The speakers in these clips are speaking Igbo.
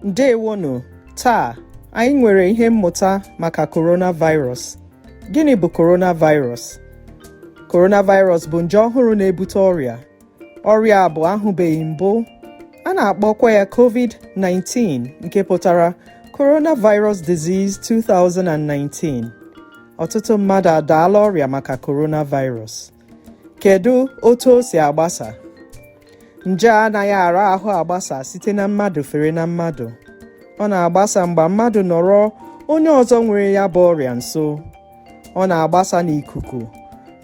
ndewonụ taa anyị nwere ihe mmụta maka coronavirus gịnị bụ coronavirus coronavirus bụ nje ọhụrụ na-ebute ọrịa ọrịa a bụ ahụbeghị mbụ a na-akpọkwa ya covid-19 nke pụtara coronavirus disease 2019 ọtụtụ mmadụ adaala ọrịa maka coronavirus Kedu otu o si agbasa? Nje a anaghị ara ahụ agbasa site na mmadụ fere na mmadụ. Ọ na-agbasa mgbe mmadụ nọrọ onye ọzọ nwere ya bụ ọrịa nso. Ọ na-agbasa n'ikuku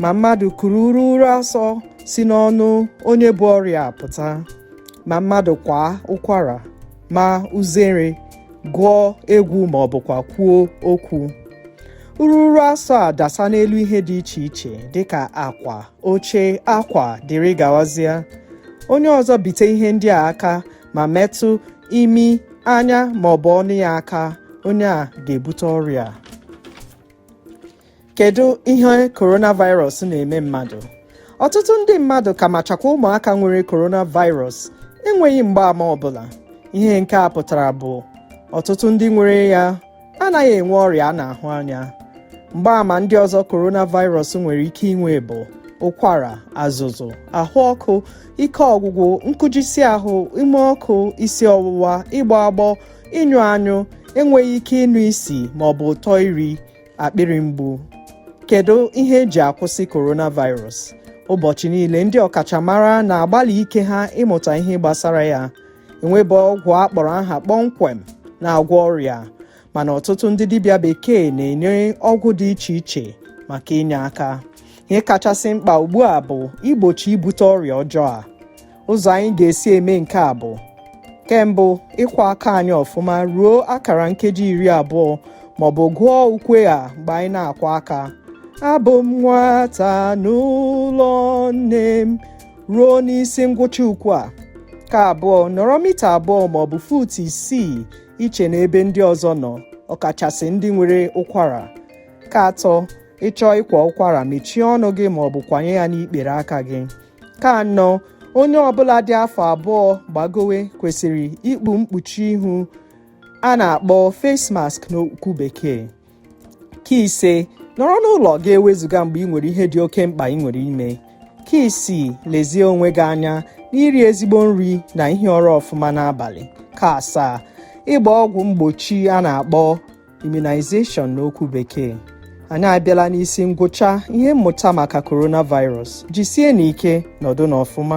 ma mmadụ kuru ururu asọ si n'ọnụ onye bu ọrịa pụta, ma mmadụ kwaa ụkwara, maa uzere gụọ egwu ma ọ bụkwa kwuo okwu ururu asọ a dasa n'elu ihe dị iche iche dịka akwa oche akwa dịrị gawazie onye ọzọ bite ihe ndị a aka ma metụ imi anya ma ọ bụ ọnụ ya aka onye a ga-ebute ọrịa kedu ihe coronavirus na-eme mmadụ ọtụtụ ndị mmadụ ka machakwa ụmụaka nwere coronavirus enweghị mgbaama ọbụla ihe nke a pụtara bụ ọtụtụ ndị nwere ya anaghị enwe ọrịa a na-ahụ anya mgbaama ndị ọzọ coronavirus nwere ike inwe bụ ụkwara azụzụ ahụ ọkụ ike ọgwụgwụ nkụjisi ahụ ume ọkụ isi ọwụwa ịgbọ agbọ ịnyụ anyụ enweghị ike ịnụ isi ma ọ bụ ụtọ nri akpịrị mgbu kedu ihe eji akwụsị coronavirus ụbọchị niile ndị ọkachamara na-agbalị ike ha ịmụta ihe gbasara ya enwebe ọgwụ a kpọrọ aha kpọmkwem na-agwọ ọrịa a mana ọtụtụ ndị dibịa bekee na-enye ọgwụ dị iche iche maka inye aka ihe kachasị mkpa ugbu a bụ igbochi ibute ọrịa ọjọọ a ụzọ anyị ga-esi eme nke a bụ ke mbụ ịkwọ aka anyị ọfụma ruo akara nkeji iri abụọ maọbụ gụọ ukwe a mgbe anyị na-akwọ aka abụ m nwata n'ụlọ nne m ruo n'isi ngwụcha ukwe a ke abụọ nọrọ mita abụọ maọbụ fut isii iche n'ebe ndị ọzọ nọ ọkachasị ndị nwere ụkwara ke atọ ị chọọ ịkwa ụkwara mechie ọnụ gị maọbụ kwanye ya n'ikpere aka gị ke anọ onye ọbụla dị afọ abụọ gbagowe kwesịrị ikpu mkpuchi ihu a na-akpọ face mask n'okwu bekee ke ise nọrọ n'ụlọ gị ewezuga mgbe i nwere ihe dị oke mkpa i nwere ime ke isii lezie onwe gị anya n'iri ezigbo nri na ihi ụra ọfụma n'abalị ke asaa ịgba ọgwụ mgbochi a na-akpọ immunization n'okwu bekee anyị abịala n'isi ngwụcha ihe mmụta maka coronavirus jisie ike nọdụ n'ọfụma